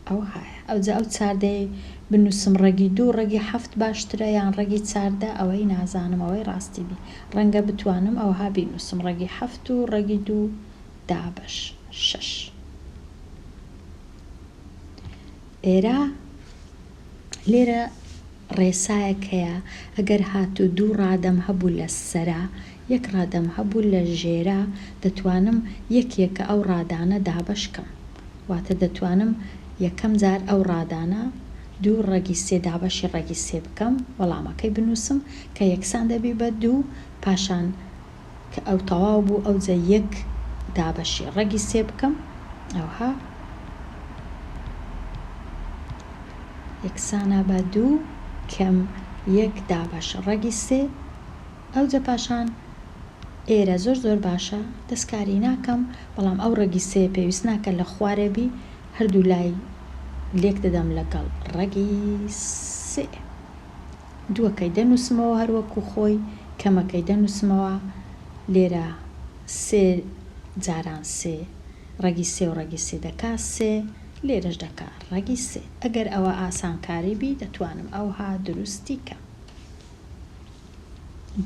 ئەوهایە ئەوجا ئەو چاردەی بنوسم ڕەگی دوو ڕەگی حەفت باشترە یان ڕەگی چاردە ئەوەی نازانم ئەوەی ڕاستی بی ڕەنگە بتوانم ئەوها بینوسم ڕەگی حەفت و ڕەگی دوو دابەش شەش ئێرە لێرە ڕێسایەک هەیە ئەگەر هاتوو دوو ڕادەم هەبوو لە سەرە یەک ڕادەم هەبوو لە ژێرە دەتوانم یەک یەکە ئەو ڕادانە دابەش کەم واتە دەتوانم یەکەم جار ئەو ڕادانە دوو ڕەگی سێ دابەشی ڕەگی سێ بکەم وەڵامەکەی بنووسم کە یەکسان دەبی بە دوو پاشان کە ئەو تەواو بوو ئەوجە یەک دابەشی ڕەگی سێ بکەم ئەوها یەکسانە بە دوو کەم یەک دابەش ڕەگی سێ ئەوجە پاشان ئێرە زۆر زۆر باشە دەستکاری ناکەم بەڵام ئەو ڕەگی سێ پێویست ناکە لە خوارێ بی هەردوو لای لێک دەدەم لەگەڵ ڕەگی سێ دووەکەی دەنووسمەوە هەر وەکوو خۆی، کەمەکەی دەنووسمەوە، لێرە سێ جاران سێ، ڕەگی سێ و ڕەگی سێ دەکا سێ، لێرەش دەکا ڕەگی سێ. ئەگەر ئەوە ئاسانکاری بی، دەتوانم ئەوها دروستی کەم.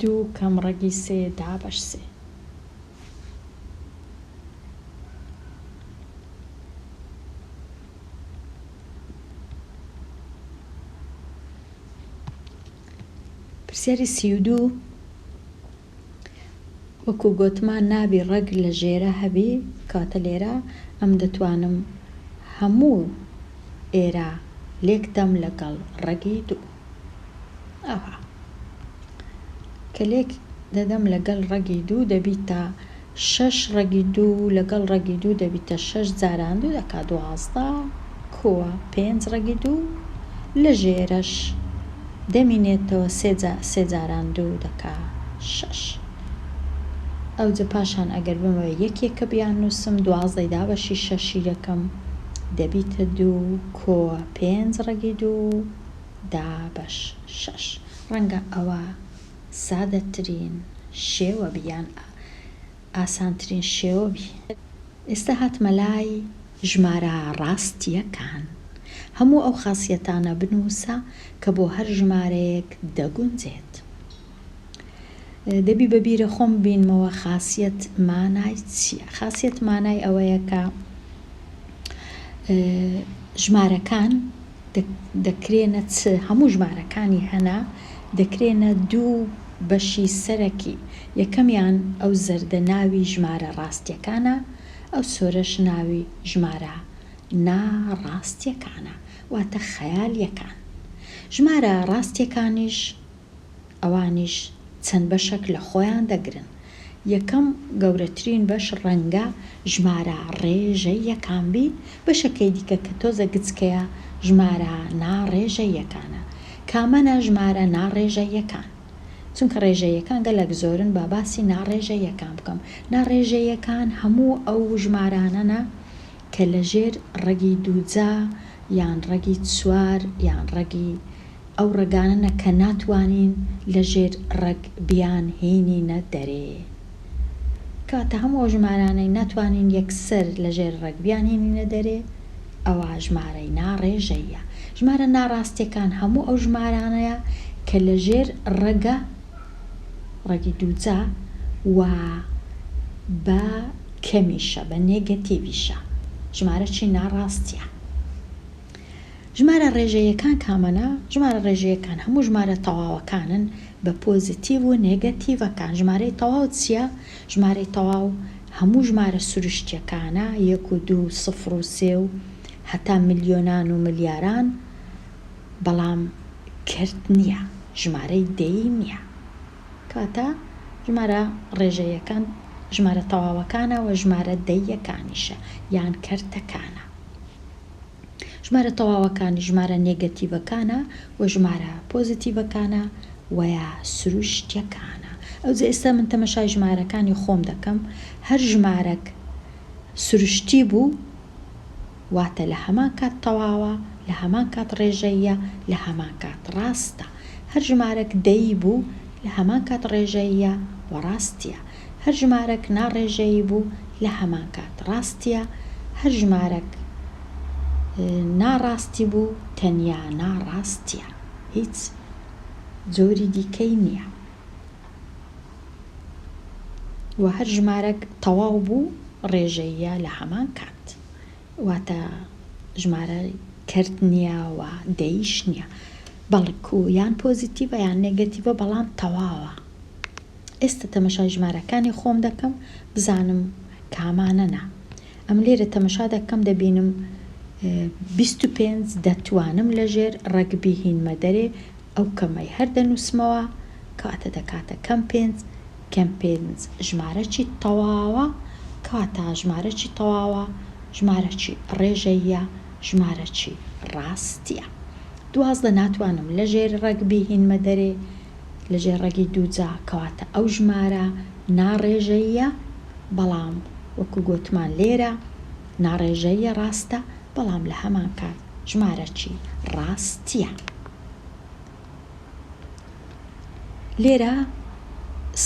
دوو کەم ڕەگی سێ دابەش سێ. پرسیاری سی و دوو، وەکو گۆتمان نابی ڕەگ لە ژێرە هەبی کەواتە لێرە ئەم دەتوانم هەموو ئێرە لێک دەم لەگەڵ ڕەگی دوو. ئەها کە لێک دەدەم لەگەل ڕەگی دوو دەبیتە شەش ڕەگی دوو لەگەڵ ڕەگی دوو دەبیتە شەش جاران دوو دەکا دوازدە کووە پێنج ڕەگی دوو لە ژێرەش دەمینێتەوە سێ جاران دوو دەکا شەش ئەوجە پاشان ئەگەر بمەوێ یەکێکە بیاننووسم دوازدەی دابەشی شەشی دەکەم دەبیتە دوو کووە پێنج ڕەگی دوو دابەش شەش. ڕەنگە ئەوە سادەترین شێوە بی یان ئاسانترین شێوە بی. ئێستا هاتمە لای ژمارە ڕاستییەکان. هەموو ئەو خاسیەتانە بنووسە کە بۆ هەر ژمارەیەک دەگونجێت. دەبی بە بیرە خۆم ببینمەوە خاسیەت مانای چییە. خاسیەت مانای ئەوەیە کە ژمارەکان دەکرێنە چ؟ هەموو ژمارەکانی هەنە دەکرێنە دوو بەشی سەرەکی، یەکەمیان ئەو زەردە ناوی ژمارە ڕاستیەکانە، ئەو سۆرەش ناوی ژمارە نا ڕاستیەکانە واتە خەیالیەکان. ژمارە ڕاستیەکانیش ئەوانیش چەند بەشەک لە خۆیان دەگرن، یەکەم گەورەترین بەش ڕەنگە ژمارە ڕێژە یەکان بی، بەشەکەی دیکە کە تۆزە گچکەیە ژمارە نا ڕێژە یەکانە. کامەنە ژمارە نا ڕێژە یەکان؟ چونکە ڕێژە یەکان گەلەک زۆرن با باسی نا ڕێژە یەکان بکەم. نا ڕێژە یەکان هەموو ئەو ژمارانەنە کە لە ژێر ڕەگی دووجا یان ڕەگی چوار یان ڕەگی. ئەو ڕەگانەنە کە ناتوانین لە ژێر ڕەگ بیان هینینە دەرێ. کەواتە هەموو ئەو ژمارانەی ناتوانین یەکسەر لە ژێر ڕەگ بیان هینینە دەرێ ئەوا ژمارەی نا ڕێژەییە. ژمارە نا ڕاستیەکان هەموو ئەو ژمارانەیە کە لە ژێر ڕەگە ڕەگی دووجا و بە کەمیشە بە نێگەتیڤیشە. ژمارە چی نا ڕاستیە. ژمارە ڕێژەییەکان کامەنە؟ ژمارە ڕێژەییەکان هەموو ژمارە تەواوەکانن بە پۆزیتیڤ و نێگەتیڤەکان. ژمارەی تەواو چییە؟ ژمارەی تەواو هەموو ژمارە سروشتییەکانە، یەک و دوو و سفر و سێ و هەتا ملیۆنان و ملیاران، بەڵام کرد نییە، ژمارەی دەیی نییە. کەواتە ژمارە ڕێژەییەکان ژمارە تەواوەکانە و ژمارە دەییەکانیشە یان کەرتەکانە. ژمارە تەواوەکان ژمارە نێگەتیڤەکانە و ژمارە پۆزیتیڤەکانە وەیا سروشتیەکانە ئەوجە ئێستا من تەمەشای ژمارەکانی خۆم دەکەم هەر ژمارەک سروشتی بوو واتە لە هەمان کات تەواوە لە هەمان کات ڕێژەیە لە هەمان کات ڕاستە هەر ژمارەک دەی بوو لە هەمان کات ڕێژەیە وە ڕاستیە هەر ژمارەک ناڕێژەیی بوو لە هەمان کات ڕاستیە هەر ژمارەک ناڕاستی بوو تەنیا ناڕاستیە هیچ جۆری دیکەی نیە وە هەر ژمارەک تەواو بوو ڕێژەییە لە هەمان کات واتە ژمارە کەرت نیە و دەییش نیە بەڵکو یان پۆزیتیڤە یان نێگەتیڤە بەڵام تەواوە. ئێستا تەمەشای ژمارەکانی خۆم دەکەم بزانم کامانەنە ئەم لێرە تەمەشا دەکەم دەبینم بیست و پێنج دەتوانم لەژێر ڕەگبی هینمە دەرێ ئەو کەمەی هەر دەنووسمەوە کاتە دەکاتە کەم پێنج کەم پێنج ژمارەکی تەواوە کاتا ژمارەکی تەواوە ژمارەکی ڕێژەیە ژمارەکی ڕاستیە دوازدە ناتوانم لەژێر ڕەگبی هینمە دەرێ لە ژێر ڕەگی دووجا، کەواتە ئەو ژمارە ناڕێژەییە، بەڵام وەکو گۆتمان لێرە ناڕێژەییە ڕاستە، بەڵام لە هەمان کات ژمارەکی ڕاستیە. لێرە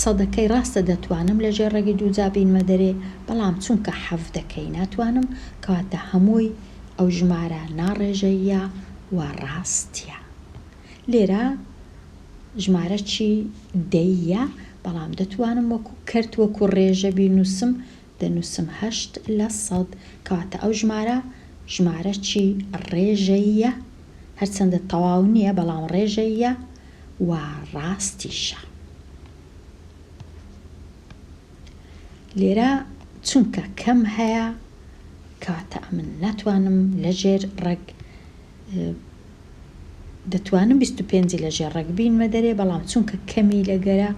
سەدەکەی ڕاستە دەتوانم لە ژێر ڕەگی دووجا بینمە دەرێ، بەڵام چونکە حەڤدەکەی ناتوانم، کەواتە هەمووی ئەو ژمارە ناڕێژەییە و ڕاستیە. لێرە ژمارە چی دەی یە بەڵام دەتوانم وەکو کەرت وەکو ڕێژە بینوسم دەنوسم هەشت لە سەد کەواتە ئەو ژمارە ژمارە چی ڕێژە یە هەرچەندە تەواو نیە بەڵام ڕێژە یە و ڕاستیشە لێرە چونکە کەم هەیە کەواتە ئەمن ناتوانم لەژێر ڕەگ دەتوانم بیست و پێنجی لە ژێر ڕەگ بینمە دەرێ بەڵام چونکە کەمی لە گەرە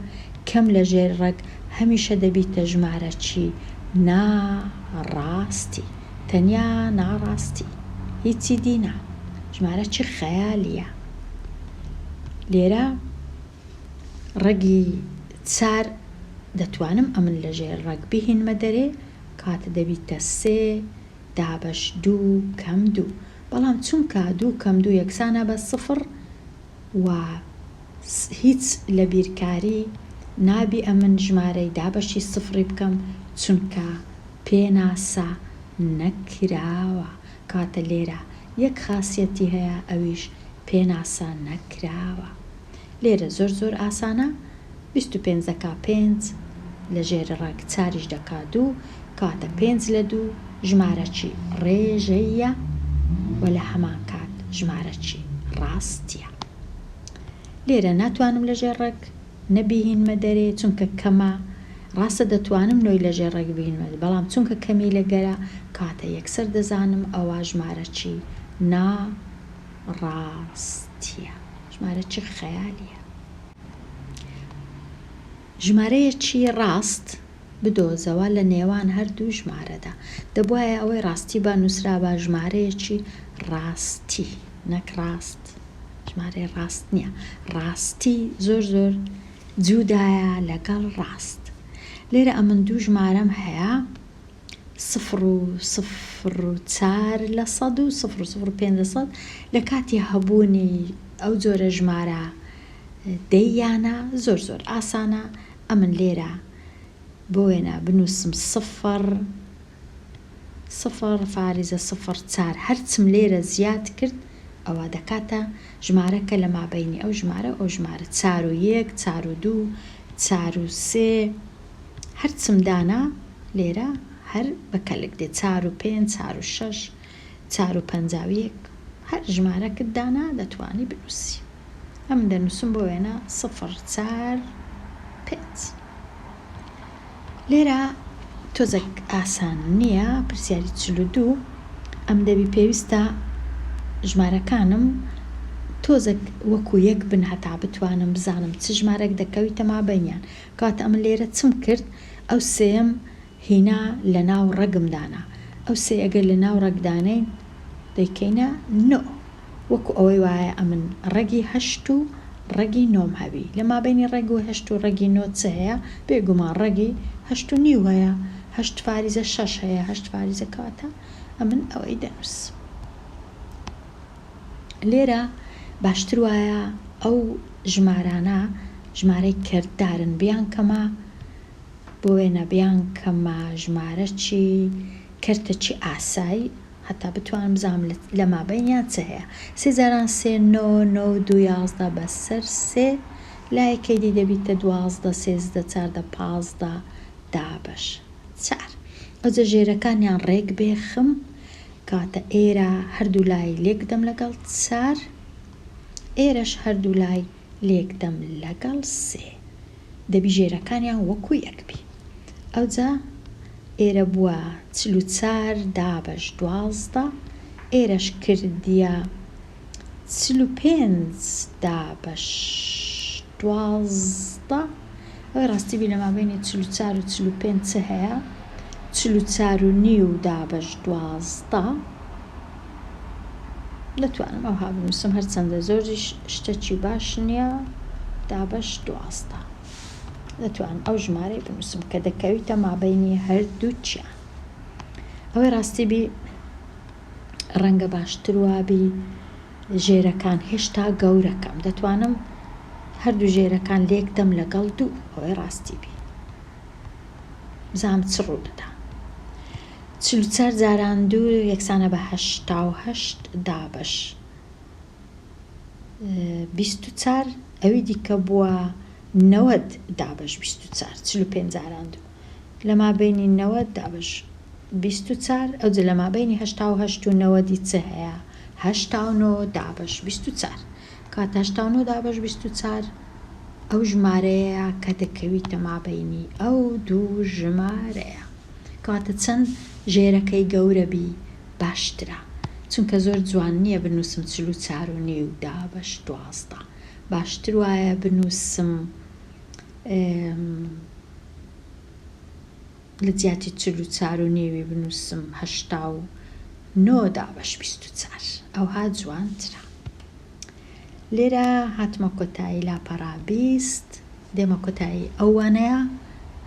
کەم لە ژێر ڕەگ هەمیشە دەبیتە ژمارەچی نا ڕا ستی تەنیا ناڕاستی هیچی دی نا ژمارە چی خەیالیە لێرە ڕەگی چار دەتوانم ئەمن لە ژێر ڕەگ بهینمە دەرێ کاتە دەبیتە سێ دابەش دوو کەم دوو بەڵام چونکە دوو کەم دوو یەکسانە بە سفڕ و هیچ لە بیرکاری نابی ئەمن ژمارەی دابەشی سفڕی بکەم چونکە پێناسە نەکراوە کەواتە لێرە یەک خاسیەتی هەیە ئەویش پێناسە نەکراوە لێرە زۆر زۆر ئاسانە بیست و پێنج دەکا پێنج لە ژێر ڕەگ چاریش دەکا دوو کەواتە پێنج لە دوو ژمارە چی ڕێژەییە و لە هەمان کات ژمارە چی ڕاستیە لێرە ناتوانم لە ژێر ڕەگ نە بیهینمە دەرێ چونکە کەمە ڕاستە دەتوانم نۆی لە ژێر ڕەگ بینمە بەڵام چونکە کەمی لەگەرە کاتە یەکسەر دەزانم ئەوە ژمارە چی نا ڕاستیە. ژمارە چ خەیالیە. ژمارەیەکی ڕاست بدۆزەوە لە نێوان هەردوو ژمارەدا. دەبوایە ئەوەی ڕاستی با نووسرابا ژمارەیەکی ڕاستی نەک ڕاست. ژمارەی ڕاست نیە. ڕاستی زۆر زۆر جوودایە لەگەڵ ڕاست. لێرە ئەمن دوو ژمارەم هەیە. سفر و سفر و چار لە سەد و سفر و سفر و پێنج لە سەد لە کاتی هەبوونی ئەو جۆرە ژمارە دەی یانە زۆر زۆر ئاسانە ئەمن لێرە بۆ وێنە بنووسم سفر سفر فاریزە سفر چار هەرچم لێرە زیاد کرد ئەوە دەکاتە ژمارە کە لە مابەینی ئەو ژمارە ئەو ژمارە چار و یەک چار و دوو چار و سێ هەرچم دانا لێرە هەر بە کەلک دێت چار و پێنج چار و شەش چار و پەنجا و یەک هەر ژمارەکت دانا دەتوانی بنووسی ئەمن دەنووسم بۆ وێنە سفر چار پێنج لێرە تۆزەک ئاسان نییە پرسیاری چل و دوو ئەم دەبی پێویستە ژمارەکانم تۆزەک وەکو یەک بن هەتا بتوانم بزانم چ ژمارەک دەکەویتە مابەینیان کات ئەمن لێرە چم کرد ئەو سێم هینا لە ناو ڕەگم دانا ئەو سێ ئەگەر لە ناو ڕەگ دانێین دەیکەینە نۆ وەکو ئەوەی وایە ئەمن ڕەگی هەشت و ڕەگی نۆم هەبی لە مابەینی ڕەگ و هەشت و ڕەگی نۆ چ هەیە بێ گومان ڕەگی هەشت و نیو هەیە هەشت فاریزە شەش هەیە هەشت فاریزە کەواتە ئەمن ئەوەی دەنووسم. لێرە باشتر وایە ئەو ژمارانە ژمارەی کەردارن بیانکەمە بۆ وێنە بیانکەمە ژمارەی کەرتەی ئاسای هەتا بتوانم بزانم لە مابەینیان چ هەیە سێ جاران سێ نۆ نۆ و دوو یازدە بەسەر سێ لایەکەی دی دەبیتە دوازدە سێزدە چاردە پازدە دابەش چار ئەوجە ژێرەکانیان ڕێک بێخم کاتە ئێرە هەردوو لای لێک دەم لەگەڵ چار ئێرەش هەردوو لای لێک دەم لەگەڵ سێ دەبی ژێرەکانیان وەکوو یەک بی ئەوجا ئێرە بووە چل و چار دابەش دوازدە ئێرەش کردیە چل و پێنج دابەش دوازدە ئەوەی ڕاستی بی لەمابەینی چل و چار و چل و پێنج چ هەیە چل و چار و نیو دابەش دوازدە دەتوانم ئەوها بنووسم هەرچەندە زۆریش شتەکی باش نییە دابەش دوازدە دەتوان ئەو ژمارەی بنووسم کە دەکەویتە مابینی هەردووچیان ئەوەی ڕاستی بی ڕەنگە باشتر وابی ژێرەکان هێشتا گەورەکەم دەتوانم هەردوو ژێرەکان لێکدەم لەگەڵ دوو ئەوەی ڕاستی بی بزام چ ڕوو دەدا چل و چار جاران دوو یەکسانە بە هەشتا و هەشت دابەش بیست و چار ئەوی دیکە بووە نەوەد دابەش بیست و چار چل و پێنج جاران دوو لە مابەینی نەوەد دابش بیست و چار ئەوجە لە مابەینی هەشتا و هەشت و نەوەدی چ هەیە هەشتا و نۆ دابش بیست و چار کەواتە هەشتا و نۆ دابش بیست و چار ئەو ژمارەیە کە دەکەویتە مابەینی ئەو دوو ژمارەیە کەواتە چەند ژێرەکەی گەورە بی باشترە چونکە زۆر جوان نییە بنووسم چل و چار و نیو دابش دوازدە باشتر وایە بنووسم لە جیاتی چل و چار و نێوی بنووسم هەشتا و نۆ دابەش بیست و چار ئەوها جوانترە لێرە هاتمە کۆتایی لاپەڕا بیست دێمە کۆتایی ئەو وانەیە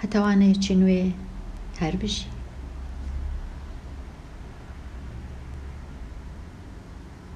هەتاوانەیەکی نوێ هەر بژی